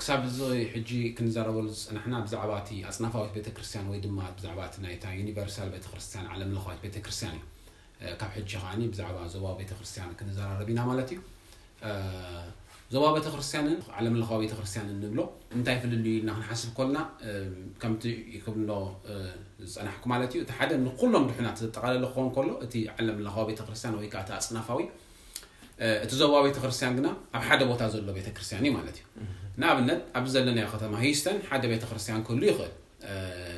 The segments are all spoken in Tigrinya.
ክሳብ እዚ ሕጂ ክንዛረበሉ ዝጸናሕና ብዛዕባ እቲ ኣጽናፋዊት ቤተ ክርስትያን ወይ ድማ ብዛዕባ እቲ ናይታ ዩኒቨርሳል ቤተ ክርስትያን ዓለም ለኻዊት ቤተ ክርስትያን እዩ። ካብ ሕጂ ከኣ ብዛዕባ ዞባዊ ቤተ ክርስትያን ክንዛራረብ ኢና ማለት እዩ። ዞባዊ ቤተ ክርስትያንን ዓለም ለኻዊ ቤተ ክርስትያንን ንብሎ እንታይ ፍልልዩ ኢልና ክንሓስብ ኮልና ከምቲ ክብሎ ዝጸናሕኩ ማለት እዩ እቲ ሓደ ንኩሎም ድሑናት ዘጠቓለለ ክኸውን ከሎ እቲ ዓለም ለኻዊ ቤተ ክርስትያን ወይ ከኣ እቲ ኣጽናፋዊ እቲ ዞባ ቤተ ክርስቲያን ግና ኣብ ሓደ ቦታ ዘሎ ቤተ ክርስቲያን እዩ ማለት እዩ ንኣብነት ኣብዚ ዘለናዮ ከተማ ሂስተን ሓደ ቤተ ክርስቲያን ክህሉ ይኽእል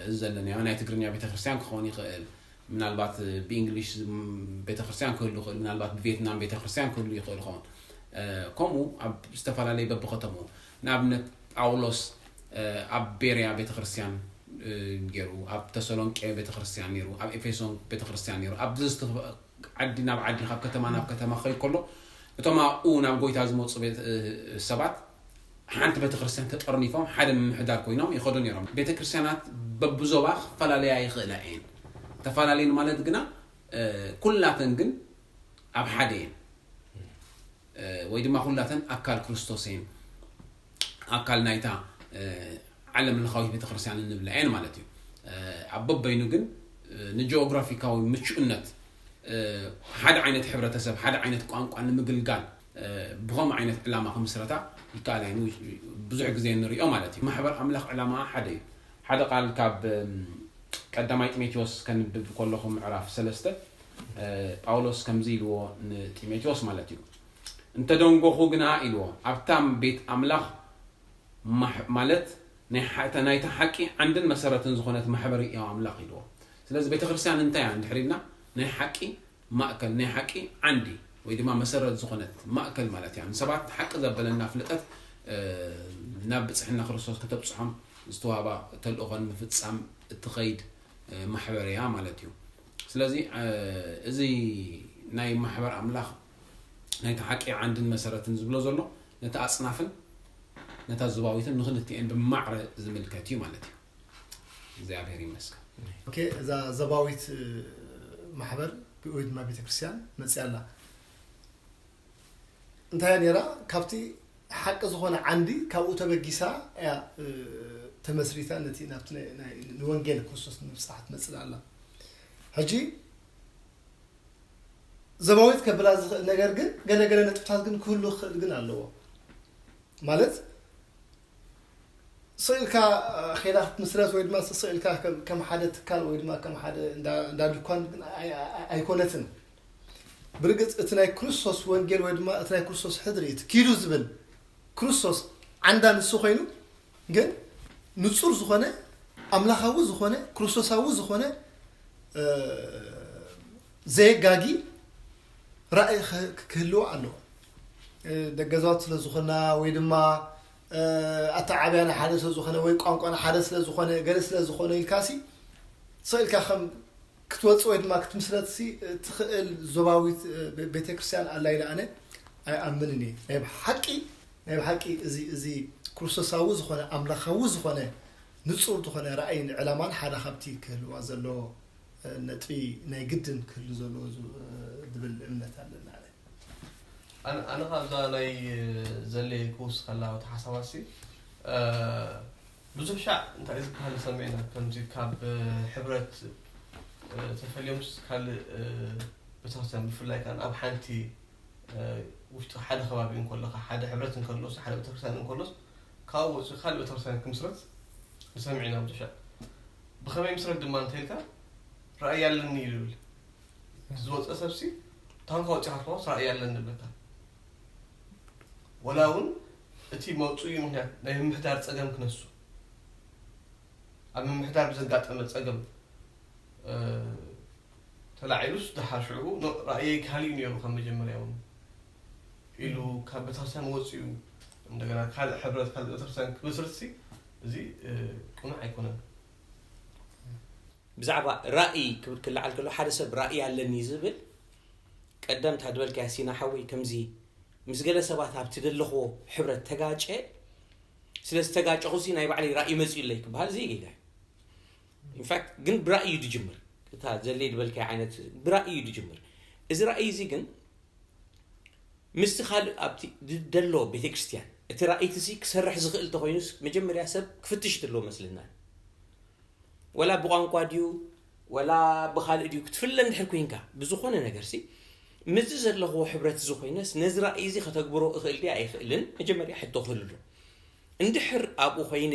እዚ ዘለናዮ ናይ ትግርኛ ቤተ ክርስቲያን ክኸውን ይኽእል ምናልባት ብእንግሊሽ ቤተክርስትያን ክህሉ ይኽእል ምናልባት ብቬትናም ቤተክርስትያን ክህሉ ይኽእል ይኸውን ከምኡ ኣብ ዝተፈላለየ በብከተምኡ ንኣብነት ጳውሎስ ኣብ ቤርያ ቤተክርስትያን ገይሩ ኣብ ተሰሎንቄ ቤተክርስትያን ነይሩ ኣብ ኤፌሶን ቤተክርስትያን ነይሩ ኣብ ዓዲ ናብ ዓዲ ኻብ ከተማ ናብ ከተማ ኪኸይድ ከሎ፣ እቶም ኣብኡ ናብ ጐይታ ዚመጹ ቤተ፣ ሰባት ሓንቲ ቤተ ክርስትያን ተጠርኒፎም ሓደ ምምሕዳር ኰይኖም ይኸዱ ነይሮም። ቤተ ክርስትያናት በብዞባ ኺፈላለያ ይኽእላ እየን፣ ተፈላለየን ማለት ግና ኵላተን ግን ኣብ ሓደ እየን። ወይ ድማ ኩላተን ኣካል ክርስቶስ እየን ኣካል ናይታ ዓለም ለኻዊት ቤተክርስትያን እንብላ እየን ማለት እዩ ኣብ በበይኑ ግን ንጂኦግራፊካዊ ምቹእነት ሓደ ዓይነት ሕብረተሰብ ሓደ ዓይነት ቋንቋ ንምግልጋል ብኸም ዓይነት ዕላማ ክምስረታ ይከኣል እዩ ብዙሕ ግዜ ንሪኦ ማለት እዩ ማሕበር ኣምላኽ ዕላማ ሓደ እዩ ሓደ ቃል ካብ ቀዳማይ ጢሞቴዎስ ከንብብ ከለኹ ምዕራፍ ሰለስተ ጳውሎስ ከምዚ ኢልዎ ንጢሞቴዎስ ማለት እዩ እንተ ደንጎኹ ግና ኢልዎ ኣብታ ቤት ኣምላኽ ማለት ናይታ ሓቂ ዓንድን መሰረትን ዝኾነት ማሕበር ሕያው ኣምላኽ ኢልዎ ስለዚ ቤተ ክርስትያን እንታይ እያ እንድሕር ኢልና ናይ ሓቂ ማእከል ናይ ሓቂ ዓንዲ ወይ ድማ መሰረት ዝኾነት ማእከል ማለት እያ ንሰባት ሓቂ ዘበለና ፍልጠት ናብ ብጽሕና ክርስቶስ ከተብጽሖም ዝተዋህባ ተልእኾ ንምፍጻም እትኸይድ ማሕበር እያ ማለት እዩ ስለዚ እዚ ናይ ማሕበር ኣምላኽ ናይቲ ሓቂ ዓንድን መሰረትን ዝብሎ ዘሎ ነታ ኣጽናፍን ነታ ዙባዊትን ንኽልቲኤን ብማዕረ ዝምልከት እዩ ማለት እዩ። እግዚኣብሔር ይመስገን። ኦኬ እዛ ዘባዊት ማሕበር ወይ ድማ ቤተክርስትያን መፅያ ኣላ እንታይ እያ ነይራ? ካብቲ ሓቂ ዝኾነ ዓንዲ ካብኡ ተበጊሳ እያ ተመስሪታ ነቲ ናብቲ ንወንጌል ክርስቶስ ንምብፃሕ ትመፅእ ኣላ ሕጂ ዘባዊት ከብላ ዝኽእል ነገር ግን ገለገለ ነጥብታት ግን ክህሉ ክኽእል ግን ኣለዎ ማለት ስእልካ ኼላ ክትምስረት ወይ ድማ ስእልካ ከም ሓደ ትካል ወይ ድማ ከም ሓደ እንዳ ድኳን ግን ኣይኮነትን ብርግጽ እቲ ናይ ክርስቶስ ወንጌል ወይ ድማ እቲ ናይ ክርስቶስ ሕድሪ እቲ ኪዱ ዝብል ክርስቶስ ዓንዳ ንሱ ኮይኑ ግን ንጹር ዝኾነ ኣምላኻዊ ዝኾነ ክርስቶሳዊ ዝኾነ ዘየጋጊ ራእይ ክህልዎ ኣለዎ ደገዛት ስለ ዝኾና ወይ ድማ ኣተዓብያና ሓደ ስለ ዝኾነ ወይ ቋንቋና ሓደ ስለ ዝኾነ ገለ ስለ ዝኾነ ኢልካሲ ሰኢልካ ከም ክትወጽእ ወይ ድማ ክትምስረትሲ እትኽእል ዞባዊት ቤተ ክርስቲያን ኣላ ኢለ ኣነ ኣይኣምንን እየ። ናይ ብሓቂ ናይ ብሓቂ እዚ እዚ ክርስቶሳዊ ዝኾነ ኣምላኻዊ ዝኾነ ንጹር ዝኾነ ራእይን ዕላማን ሓደ ካብቲ ክህልዋ ዘለዎ ነጥቢ ናይ ግድን ክህሉ ዘለዎ ዝብል እምነት ኣለና። ኣነ ካብዛ ናይ ዘሌ ክውስኸላ እቲ ሓሳባትሲ ብዙሕ ሻዕ እንታይ እዩ ዝብሃል ሰሚዕና ከምዚ ካብ ሕብረት ተፈልዮምስ ካልእ በተክርስትያን ብፍላይ ከኣ ኣብ ሓንቲ ውሽጢ ሓደ ከባቢ እንከለኻ ሓደ ሕብረት እንከሎስ ሓደ ቤተክርስትያን እንከሎስ ካብኡ ወፂኡ ካልእ ቤተክርስትያን ክምስረት ንሰምዕ ኢና ብዙሕ ሻዕ ብኸመይ ምስረት ድማ እንተልካ ራእይ ኣለኒ እዩ ዝብል ዝወፀ ሰብሲ ታንኳ ወፂኻ ትኸዋስ ራእይ ኣለኒ ንብለካ ወላ እውን እቲ መውጽኢ ምኽንያት ናይ ምምሕዳር ጸገም ክነሱ፣ ኣብ ምምሕዳር ብዘጋጠመ ጸገም ተላዒሉስ ደሓር ሽዑ ኖእ ራእየይ ካልእ'ዩ ነይሩ ካብ መጀመርያ'ውን ኢሉ ካብ ቤተክርስትያን ወጺኡ እንደገና ካልእ ሕብረት ካልእ ቤተክርስትያን ክምስርትሲ እዚ ቅኑዕ ኣይኮነን። ብዛዕባ ራእይ ክብል ክልዓል ከሎ ሓደ ሰብ ራእይ ኣለኒ ዝብል ቀደም እታ ድበልካያ ሲና ሓወይ ከምዚ ምስ ገለ ሰባት ኣብቲ ደለኽዎ ሕብረት ተጋጨ ስለ ዝተጋጨኹሲ ናይ ባዕለይ ራእይ መፅኡለይ ክበሃል ዘይጌጋ እዩ ኢንፋክት ግን ብራእይ እዩ ድጅምር እታ ዘሌ ድበልካያ ዓይነት ብራእይ እዩ ድጅምር እዚ ራእይ እዚ ግን ምስቲ ካልእ ኣብቲ ደሎ ቤተ ክርስቲያን እቲ ራእይቲ ሲ ክሰርሕ ዝኽእል ተኮይኑስ መጀመርያ ሰብ ክፍትሽ ዘለዎ መስልና ወላ ብቋንቋ ድዩ ወላ ብኻልእ ድዩ ክትፍለ እንድሕር ኩንካ ብዝኾነ ነገርሲ ምስዚ ዘለኽዎ ሕብረትዚ ኮይነስ ነዚ ራእይዚ ከተግብሮ እኽእል ድየ ኣይኽእልን መጀመርያ ሕቶ ክህልሉ እንድሕር ኣብኡ ኮይነ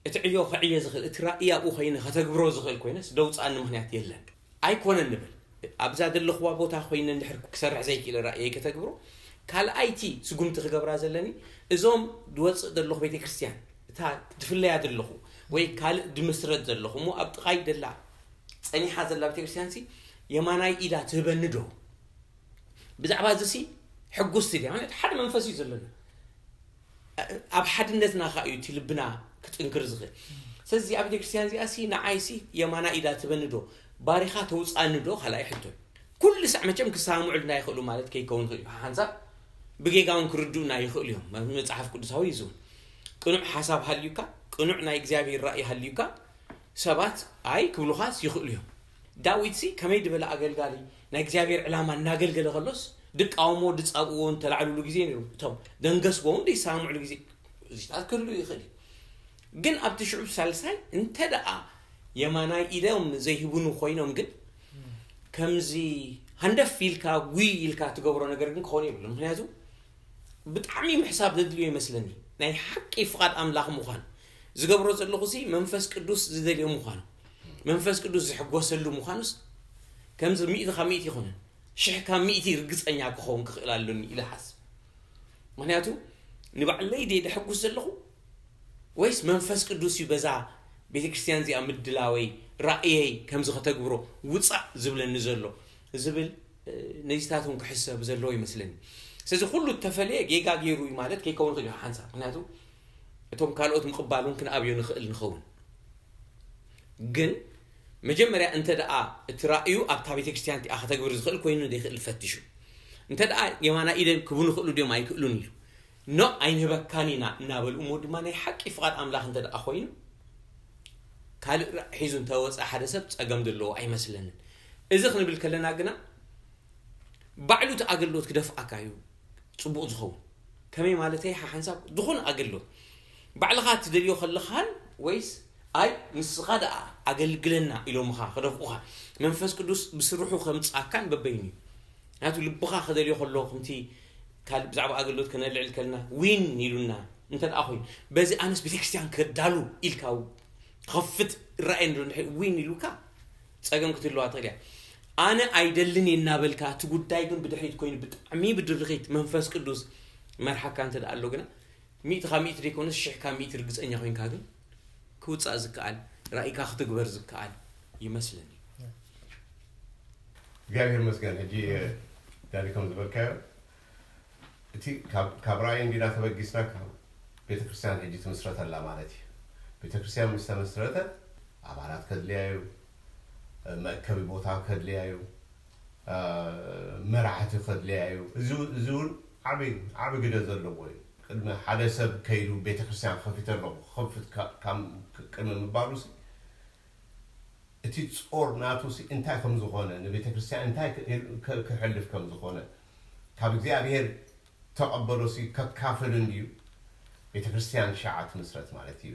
እቲ ዕዮ ክዕየ ዝኽእል እቲ ራእይ ኣብኡ ኮይነ ከተግብሮ ዝኽእል ኮይነስ ደውፅኣኒ ምኽንያት የለን። ኣይኮነን ንብል ኣብዛ ዘለኽዋ ቦታ ኮይነ እንድሕር ክሰርሕ ዘይኪእለ ራእየይ ከተግብሮ ካልኣይቲ ስጉምቲ ክገብራ ዘለኒ እዞም ድወጽእ ዘለኹ ቤተክርስትያን እታ ድፍለያ ዘለኹ ወይ ካልእ ድምስረት ዘለኹ እሞ ኣብ ጥቓይ ደላ ጸኒሓ ዘላ ቤተክርስትያንሲ የማናይ ኢዳ ትህበኒ ዶ ብዛዕባ እዚሲ ሕጉስቲ ድያ ማለት ሓደ መንፈስ እዩ ዘለና ኣብ ሓድነትና ከኣ እዩ እቲ ልብና ክጥንክር ዝኽእል ስለዚ እዚኣ ቤተክርስትያን እዚኣ ሲ ንዓይ ሲ የማና ኢዳ ትበኒ ዶ ባሪኻ ተውፃኒ ዶ ካልኣይ ሕቶ ኩሉ ሳዕ መቸም ክሰማምዑልና ይኽእሉ ማለት ከይከውን ይኽእል እዩ ሓንሳብ ብጌጋ እውን ክርድኡና ይኽእሉ እዮም መፅሓፍ ቅዱሳዊ እዩ ዝብል ቅኑዕ ሓሳብ ሃልዩካ ቅኑዕ ናይ እግዚኣብሔር ራእይ ሃልዩካ ሰባት ኣይ ክብሉኻስ ይኽእሉ እዮም ዳዊትሲ ከመይ ድበለ ኣገልጋሊ ናይ እግዚኣብሔር ዕላማ እናገልገለ ከሎስ ድቃወምዎ ድጻብእዎ እንተላዕሉሉ ግዜ ነይሩ እቶም ደንገስቦ እውን ደይሰማምዕሉ ግዜ እዚታት ክህሉ ይኽእል እዩ ግን ኣብቲ ሽዑብ ሳልሳይ እንተ ደኣ የማናይ ኢዶም ዘይህቡኑ ኮይኖም ግን ከምዚ ሃንደፍ ኢልካ ጉይ ኢልካ ትገብሮ ነገር ግን ክኾኑ የብሉ ምክንያቱ ብጣዕሚ ምሕሳብ ዘድልዮ ይመስለኒ ናይ ሓቂ ፍቓድ ኣምላኽ ምዃን ዝገብሮ ዘለኹ ሲ መንፈስ ቅዱስ ዝደልዮ ምዃን መንፈስ ቅዱስ ዝሕጎሰሉ ምዃኑስ ከምዚ ሚእቲ ካብ ሚእቲ ይኹንን ሽሕ ካብ ሚእቲ ርግፀኛ ክኸውን ክኽእል ኣሎኒ ኢለ ሓስብ ምክንያቱ ንባዕለይ ደ ደሕጉስ ዘለኹ ወይስ መንፈስ ቅዱስ እዩ በዛ ቤተ ክርስቲያን እዚኣ ምድላወይ ራእየይ ከምዚ ከተግብሮ ውፃእ ዝብለኒ ዘሎ ዝብል ነዚታት እውን ክሕሰብ ዘለዎ ይመስለኒ ስለዚ ኩሉ እተፈለየ ጌጋ ገይሩ እዩ ማለት ከይከውን ክእል ሓንሳብ ምክንያቱ እቶም ካልኦት ምቕባል እውን ክንኣብዮ ንኽእል ንኸውን ግን መጀመርያ እንተ ደኣ እቲ ራእዩ ኣብታ ቤተ ክርስትያን እቲኣ ከተግብር ዝኽእል ኮይኑ ዘይክእል ፈትሹ። እንተ ደኣ የማና ኢደን ክቡን ይኽእሉ ድዮም ኣይክእሉን ኢሉ ኖ ኣይንህበካን ኢና እናበሉ እሞ ድማ ናይ ሓቂ ፍቓድ ኣምላኽ እንተ ደኣ ኮይኑ ካልእ ራእ ሒዙ እንተ ወጸ ሓደ ሰብ ጸገም ዘለዎ ኣይመስለንን። እዚ ክንብል ከለና ግና ባዕሉ እቲ ኣገልግሎት ክደፍኣካ እዩ ጽቡቕ ዝኸውን። ከመይ ማለተይ ሓሓንሳብ ዝኾነ ኣገልግሎት ባዕልኻ ትደልዮ ከለኻን ወይስ ኣይ ንስኻ ደኣ ኣገልግለና ኢሎምኻ ክደፍኡኻ መንፈስ ቅዱስ ብስርሑ ከምጽኣካን በበይኑ እዩ። ምክንያቱ ልብኻ ክደልዮ ከሎ ከምቲ ካልእ ብዛዕባ ኣገልግሎት ከነልዕል ከለና ዊን ኢሉና እንተደኣ ኮይኑ በዚ ኣነስ ቤተክርስትያን ከዳሉ ኢልካ ክኸፍት ራእይ ንዶ እንድሕር ዊን ኢሉካ ጸገም ክትህልዋ ትኽእል እያ። ኣነ ኣይደልን እየ እናበልካ እቲ ጉዳይ ግን ብድሕሪት ኮይኑ ብጣዕሚ ብድርኺት መንፈስ ቅዱስ መርሓካ እንተደኣ ኣሎ ግና ሚእቲ ካብ ሚእቲ ዘይኮነስ ሽሕ ካብ ሚእቲ ርግጸኛ ኮይንካ ግን ክውጻእ ዝከኣል ራኢካ ክትግበር ዝከኣል ይመስለኒ። እግዚኣብሔር ይመስገን ሕጂ ዳኒ ከም ዝበልካዮ እቲ ካብ ራእይ እንዲና ተበጊስና ካብ ቤተክርስትያን ሕጂ ትምስረት ኣላ ማለት እዩ ቤተክርስትያን ምስ ተመስረተት ኣባላት ከድልያ እዩ መእከቢ ቦታ ከድልያ እዩ መራሕቲ ከድልያ እዩ እዚ እውን ዓቢ ዓቢ ግደ ዘለዎ እዩ ቅድሚ ሓደ ሰብ ከይዱ ቤተክርስትያን ከፊተ ኣለኹ ክኸፍት ካብ ቅድሚ ምባሉሲ እቲ ጾር ናቱሲ እንታይ ከም ዝኾነ ንቤተክርስትያን እንታይ ከሕልፍ ከም ዝኾነ ካብ እግዚኣብሄር ተቐበሎሲ ከካፍል እንድዩ ቤተክርስትያን ሽዓ ትምስረት ማለት እዩ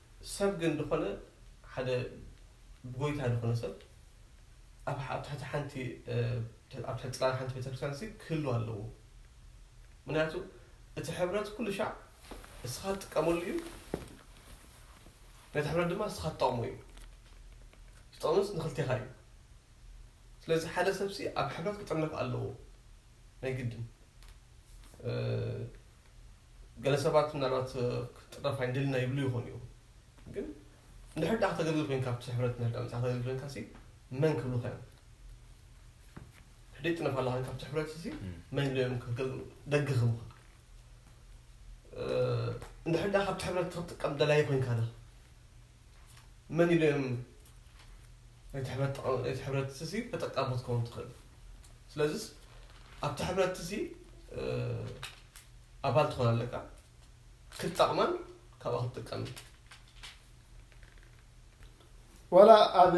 ሰብ ግን ድኾነ ሓደ ብጎይታ ድኾነ ሰብ ኣብ ኣብ ትሕቲ ሓንቲ ኣብ ትሕቲ ጽላል ሓንቲ ቤተክርስትያንሲ ክህሉ ኣለዎ ምክንያቱ እቲ ሕብረት ኩሉ ሻዕ እስኻ ትጥቀመሉ እዩ ነቲ ሕብረት ድማ እስኻ ትጠቕሞ እዩ ዝጠቕምስ ንክልቴኻ እዩ ስለዚ ሓደ ሰብሲ ኣብ ሕብረት ክጥርነፍ ኣለዎ ናይ ግድን ገለ ሰባት ምናልባት ክትጥረፍ ኣይንደልና ይብሉ ይኾኑ እዮም ግን እንድሕር ድኣ ከተገልግል ኮይንካ ኣብቲ ሕብረት እንድሕር ድኣ መጽሓፍ ከተገልግል ኮይንካ ሲ መን ክብሉካ እዮም ሕደይ ጥነፍ ኣለኻ ካብቲ ሕብረት ሲ መን ኢሎም እዮም ከተገልግሉ ደገ ክብሉካ እንድሕር ድኣ ካብቲ ሕብረት ክትጥቀም ደላይ ኮይንካ ዶ መን ኢሎም እቲ ሕብረትሲ ተጠቃሚ ክትከውን ትኽእል ስለዚ ኣብቲ ሕብረትሲ ኣባል ትኾን ኣለካ ክትጠቕመን ካብኣ ክትጥቀም ዋላ ኣብ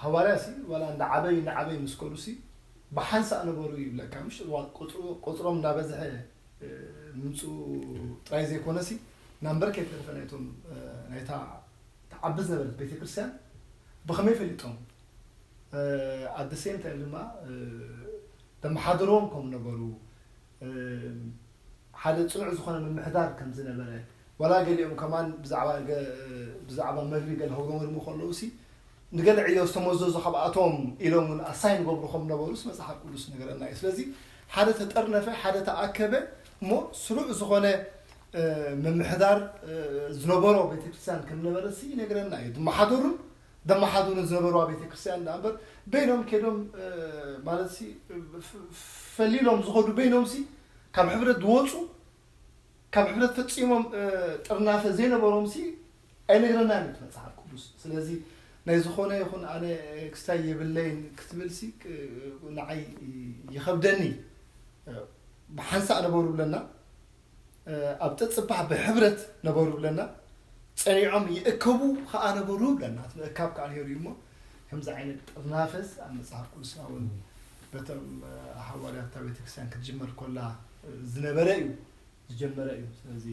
ሃዋርያ ሲ ዋላ እንዳ ዓበይ እንዳ ዓበይ ምስ ከዱ ሲ ብሓንሳእ ነበሩ ይብለካ ምሽ ቁፅሮም እንዳበዝሐ ምምፅኡ ጥራይ ዘይኮነ ሲ ናምበር ከይተረፈ ናይቶም ናይታ ትዓቢ ዝነበረት ቤተክርስትያን ብኸመይ ፈሊጦም ኣት ዘ ሴም ታይም ድማ ዘመሓድርዎም ከም ነበሩ ሓደ ፅኑዕ ዝኾነ ምምሕዳር ከም ዝነበረ ዋላ ገሊኦም ከማን ብዛዕባ ብዛዕባ መግቢ ገለ ከጉረመርሙ ከለውሲ ንገለ ዕዮ ዝተመዘዙ ካብኣቶም ኢሎም ውን ኣሳይን ይገብሩ ከም ነበሩስ መጽሓፍ ቅዱስ ይነግረና ኢዩ። ስለዚ ሓደ ተጠርነፈ ሓደ ተኣከበ እሞ ስሩዕ ዝኾነ ምምሕዳር ዝነበሮ ቤተክርስትያን ከም ነበረሲ ይነግረና ኢዩ። ዝመሓደሩን ዘመሓድሩን ዝነበርዋ ቤተክርስትያን ደኣ እምበር በይኖም ከይዶም ማለትሲ ፈሊሎም ዝኸዱ በይኖምሲ ካብ ሕብረት ዝወጹ ካብ ሕብረት ፈጺሞም ጥርናፈ ዘይነበሮምሲ ኣይነግረናን እዩ እቲ መጽሓፍ ቅዱስ ስለዚ ናይ ዝኾነ ይኹን ኣነ ክስታይ የብለይን ክትብልሲ ንዓይ ይኸብደኒ ብሓንሳእ ነበሩ ብለና ኣብ ጥጽባሕ ብሕብረት ነበሩ ብለና ጸኒዖም ይእከቡ ከኣ ነበሩ ብለና እቲ ምእካብ ከኣ ነይሩ እዩ እሞ ከምዚ ዓይነት ጥርናፈስ ኣብ መጽሓፍ ቅዱስና እውን በቶም ሃዋርያታ ቤተክርስትያን ክትጅመር ኮላ ዝነበረ እዩ ዝጀመረ እዩ ስለዚ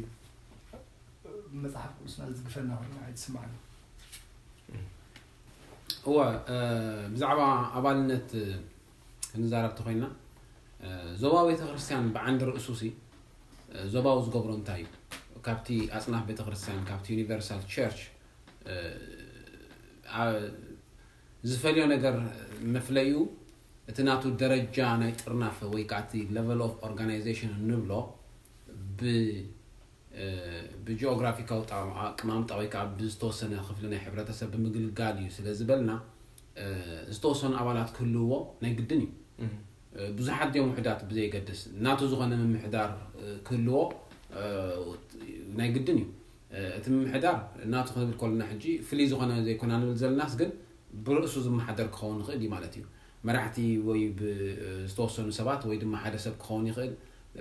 መጽሓፍ ቅዱስና ዝድግፈና ኮይኑ ኣይትስማዕና እወ ብዛዕባ ኣባልነት ክንዛረብ ተኮይና ዞባ ቤተክርስትያን ብዓንዲ ርእሱ ሲ ዞባዊ ዝገብሮ እንታይ እዩ ካብቲ ኣፅናፍ ቤተክርስትያን ካብቲ ዩኒቨርሳል ቸርች ዝፈልዮ ነገር መፍለዩ እቲ ናቱ ደረጃ ናይ ጥርናፈ ወይ ከኣ እቲ Level of Organization እንብሎ ብ ብጂኦግራፊካዊ ኣቀማምጣ ወይ ከኣ ብዝተወሰነ ክፍሊ ናይ ሕብረተሰብ ብምግልጋል እዩ ስለ ዝበልና ዝተወሰኑ ኣባላት ክህልውዎ ናይ ግድን እዩ። ብዙሓት ድዮም ውሑዳት ብዘየገድስ ናቱ ዝኾነ ምምሕዳር ክህልዎ ናይ ግድን እዩ። እቲ ምምሕዳር ናቱ ክንብል ከሎና ሕጂ ፍልይ ዝኾነ ዘይኮና ንብል ዘለናስ ግን ብርእሱ ዝመሓደር ክኸውን ይኽእል እዩ ማለት እዩ። መራሕቲ ወይ ብዝተወሰኑ ሰባት ወይ ድማ ሓደ ሰብ ክኸውን ይኽእል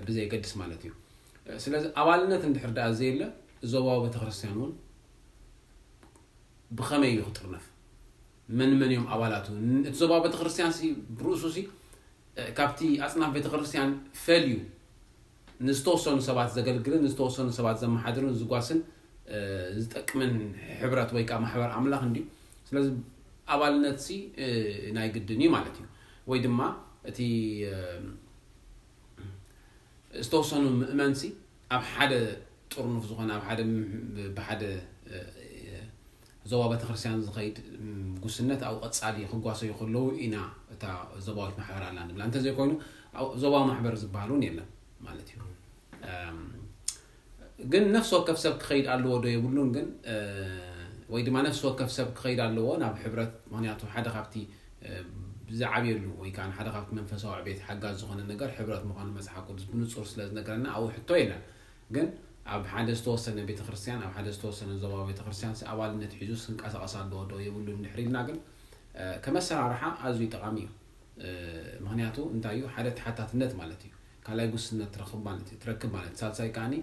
ብዘየገድስ ማለት እዩ። ስለዚ ኣባልነት እንድሕር ደኣ ዘየለ ዞባዊ ቤተክርስትያን እውን ብኸመይ እዩ ክጥርነፍ? መን መን እዮም ኣባላቱ? እቲ ዞባዊ ቤተክርስትያንሲ ብርእሱሲ ካብቲ ኣጽናፍ ቤተክርስትያን ፈልዩ ንዝተወሰኑ ሰባት ዘገልግልን ንዝተወሰኑ ሰባት ዘመሓድርን ዝጓስን ዝጠቅምን ሕብረት ወይ ከኣ ማሕበር ኣምላኽ እንድዩ። ስለዚ ኣባልነትሲ ናይ ግድን እዩ ማለት እዩ። ወይ ድማ እቲ ዝተወሰኑ ምእመንሲ ኣብ ሓደ ጥርኑፍ ዝኾነ ኣብ ሓደ ብሓደ ዞባ ቤተክርስትያን ዝኸይድ ጉስነት ኣብኡ ቀጻሊ ክጓሰዩ ከለዉ ኢና እታ ዞባዊት ማሕበር ኣላ ንብላ እንተዘይኮይኑ ኣብኡ ዞባዊ ማሕበር ዝበሃል እውን የለን ማለት እዩ ግን ነፍሲ ወከፍ ሰብ ክኸይድ ኣለዎ ዶ የብሉን ግን ወይ ድማ ነፍሲ ወከፍ ሰብ ክኸይድ ኣለዎ ናብ ሕብረት ምክንያቱ ሓደ ካብቲ ዝዓብየሉ ወይ ከዓ ሓደ ካብቲ መንፈሳዊ ዕቤት ሓጋዝ ዝኾነ ነገር ሕብረት ምዃኑ መፅሓፍ ቅዱስ ብንፁር ስለ ዝነገረና ኣብኡ ሕቶ የለን ግን ኣብ ሓደ ዝተወሰነ ቤተክርስትያን ኣብ ሓደ ዝተወሰነ ዞባዊ ቤተክርስትያንሲ ኣባልነት ሒዙስ ክንቀሳቐስ ኣለዎ ዶ የብሉን ድሕሪ ኢልና ግን ከም ኣሰራርሓ ኣዝዩ ጠቓሚ እዩ። ምክንያቱ እንታይ እዩ ሓደ ተሓታትነት ማለት እዩ ካልኣይ ጉስነት ትረክብ ማለት እዩ ትረክብ ማለት ሳልሳይ ከዓኒ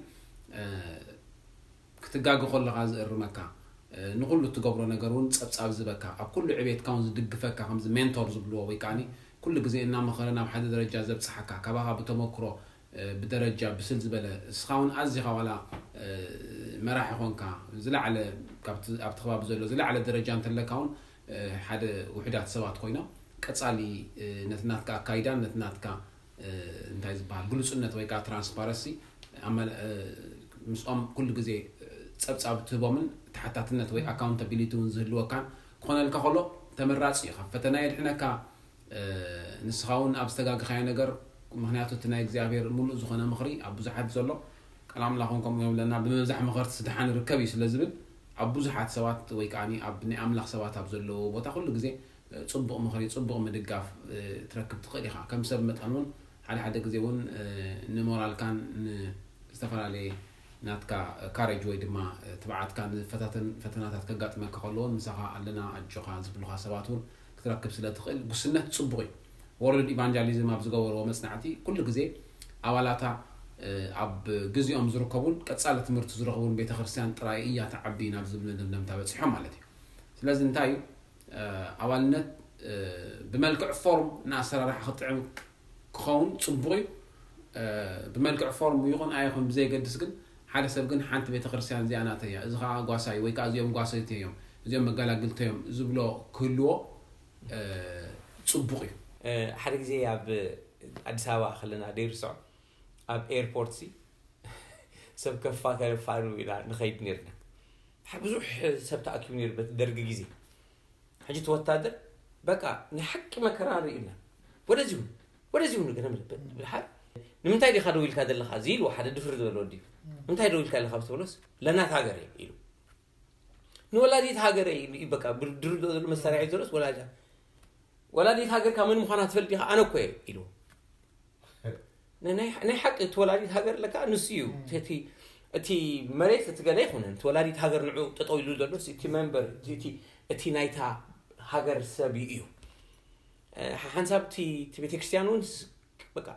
ክትጋገ ከለካ ዝእርመካ ንኩሉ እትገብሮ ነገር እውን ፀብፃብ ዝበካ ኣብ ኩሉ ዕቤትካ እውን ዝድግፈካ ከምዚ ሜንቶር ዝብልዎ ወይ ከዓኒ ኩሉ ግዜ እናመኸረ ናብ ሓደ ደረጃ ዘብፅሓካ ካባኻ ብተመክሮ ብደረጃ ብስል ዝበለ እስኻ ውን ኣዚኻ ዋላ መራሒ ኮንካ ዝላዓለ ካብቲ ኣብቲ ከባቢ ዘሎ ዝላዓለ ደረጃ እንተለካ ውን ሓደ ውሑዳት ሰባት ኮይኖም ቀጻሊ ነቲ ናትካ ኣካይዳን ነቲ ናትካ እንታይ ዝብሃል ግሉጽነት ወይ ከኣ ትራንስፓረሲ ምስኦም ኩሉ ግዜ ጸብጻብ እትህቦምን ተሓታትነት ወይ ኣካውንታቢሊቲ ውን ዝህልወካን ክኾነልካ ከሎ ተመራጺ ኢዩ። ካብ ፈተና የድሕነካ፣ ንስኻ ውን ኣብ ዝተጋገኻዮ ነገር ምኽንያቱ እቲ ናይ እግዚኣብሄር ምሉእ ዝኾነ ምኽሪ ኣብ ብዙሓት ዘሎ ቃል ኣምላኽ ውን ከምኡ ይብለና ብምብዛሕ መኸርትስ ድሓን ይርከብ እዩ ስለ ዝብል ኣብ ብዙሓት ሰባት ወይ ከኣ ኣብ ናይ ኣምላኽ ሰባት ኣብ ዘለውዎ ቦታ ኩሉ ግዜ ጽቡቕ ምኽሪ ጽቡቕ ምድጋፍ ትረክብ ትኽእል ኢኻ ከም ሰብ መጠን ውን ሓደ ሓደ ግዜ ውን ንሞራልካን ን ዝተፈላለየ ናትካ ካሬጅ ወይ ድማ ትብዓትካ ዝፈታተን ፈተናታት ከጋጥመካ ከሎ ውን ምሳኻ ኣለና ኣጆኻ ዝብሉኻ ሰባት ውን ክትረክብ ስለ ትኽእል ጉስነት ጽቡቕ እዩ። ወርልድ ኢቫንጃሊዝም ኣብ ዝገበርዎ መጽናዕቲ ኩሉ ግዜ ኣባላታ ኣብ ግዚኦም ዝርከቡን ቀጻሊ ትምህርቲ ዝረኽቡን ቤተ ክርስትያን ጥራይ እያ ትዓቢ ናብ ዝብል መደምደምታ በጺሖም ማለት እዩ። ስለዚ እንታይ እዩ ኣባልነት ብመልክዕ ፎርም ንኣሰራርሓ ክጥዕም ክኸውን ጽቡቕ እዩ ብመልክዕ ፎርም ይኹን ኣይኹን ብዘየገድስ ግን ሓደ ሰብ ግን ሓንቲ ቤተክርስትያን እዚኣ ናተይ እያ እዚ ከኣ ጓሳይ ወይ ከኣ እዚኦም ጓሰይተይ እዮም እዚኦም መጋላግልተይ እዮም ዝብሎ ክህልዎ ጽቡቕ እዩ። ሓደ ግዜ ኣብ ኣዲስ ኣበባ ከለና ደይርሰዖ ኣብ ኤርፖርት ሲ ሰብ ከፋ ተረፋ ን ንኸይድ ኔርና ብዙሕ ሰብ ተኣኪቡ ኔሩ በቲ ደርጊ ግዜ ሕጂ እቲ ወታደር በቃ ናይ ሓቂ መከራ ንሪኢ ኣለና ወደዚ ሁን ወደዚ ሁን ገለ ብልሓት ንምንታይ ዲኻ ደው ኢልካ ዘለኻ እዚ ኢልዎ ሓደ ድፍር ዝበለ ወዲ እንታይ ደው ኢልካ ኣለኻ ብትብሎስ ለናት ሃገር እየ ኢሉ ንወላዲት ሃገር እዩ በቃ ብድር ዘሎ መሳርያ እዩ ዘሎስ ወላዲት ወላዲት ሃገርካ መን ምዃና ትፈልጥ ዲኻ ኣነ እኮ እየ ኢልዎ ናይ ሓቂ እቲ ወላዲት ሃገር ለካ ንሱ እዩ እቲ መሬት እቲ ገለ ይኹንን እቲ ወላዲት ሃገር ንዑ ጠጠው ኢሉ ዘሎ እቲ መንበር እቲ ናይታ ሃገር ሰብ እዩ ሓንሳብ እቲ ቤተክርስትያን እውን በቃ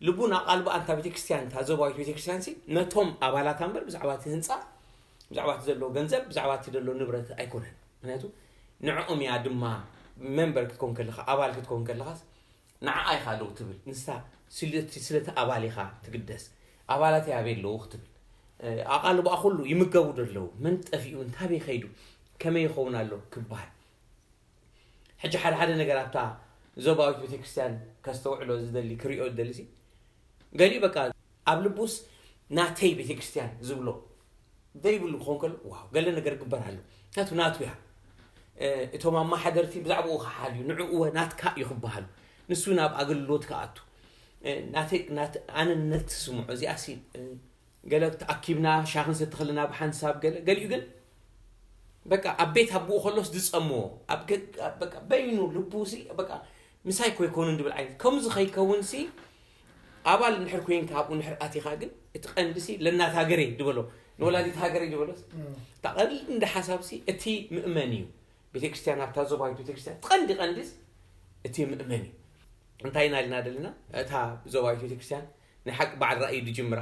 ልቡን ኣቓልቦ ኣንታ ቤተክርስትያን እታ ዞባዊት ቤተክርስትያን ሲ ነቶም ኣባላታ እምበር ብዛዕባ እቲ ህንፃ ብዛዕባ እቲ ዘሎ ገንዘብ ብዛዕባ እቲ ዘሎ ንብረት ኣይኮነን ምክንያቱ ንዕኦም እያ ድማ መንበር ክትኮን ከለካ ኣባል ክትኮን ከለካስ ንዓኣ ኢኻ ደው ትብል ንሳ ስለቲ ስለቲ ኣባል ኢኻ ትግደስ ኣባላተይ ኣበይ ኣለዉ ክትብል ኣቓልቦኣ ኩሉ ይምገቡ ዶ ኣለዉ መን ጠፊኡ እንታበይ ከይዱ ከመይ ይኸውን ኣሎ ክበሃል ሕጂ ሓደ ሓደ ነገር ኣብታ ዞባዊት ቤተክርስትያን ከስተውዕሎ ዝደሊ ክሪኦ ዝደሊ ገሊኡ በቃ ኣብ ልቡስ ናተይ ቤተክርስትያን ዝብሎ ዘይብሉ ክኾን ከሎ ዋው ገለ ነገር ግበር ኣሎ ምክንያቱ ናቱ እያ እቶም ኣመሓደርቲ ብዛዕባኡ ክሓልዩ ንዕኡወ ናትካ እዩ ክበሃሉ ንሱ ናብ ኣገልግሎት ክኣቱ ኣነነት ትስምዖ እዚኣ ሲ ገለ ተኣኪብና ሻኽ ንሰቲ ከለና ብሓንሳብ ገለ ገሊኡ ግን በቃ ኣብ ቤት ኣቦኡ ከሎስ ዝፀምዎ ኣብ በቃ በይኑ ልቡ ሲ በቃ ምሳይ ኮይኮኑ እንድብል ዓይነት ከምዚ ከይከውን ሲ ኣባል እንድሕር ኮይንካ ኣብኡ እንድሕር ኣቲኻ ግን እቲ ቀንዲሲ ለእናት ሃገረይ ድበሎ ንወላዲት ሃገረይ ድበሎስ እታ ቀንዲ ሓሳብሲ እቲ ምእመን እዩ ቤተክርስትያን ኣብታ ዞባዊት ቤተክርስትያን እቲ ቀንዲ ቀንዲስ እቲ ምእመን እዩ እንታይ ኢና ኢልና ደለና እታ ዞባዊት ቤተክርስትያን ናይ ሓቂ በዓል ራእይ ድጅምራ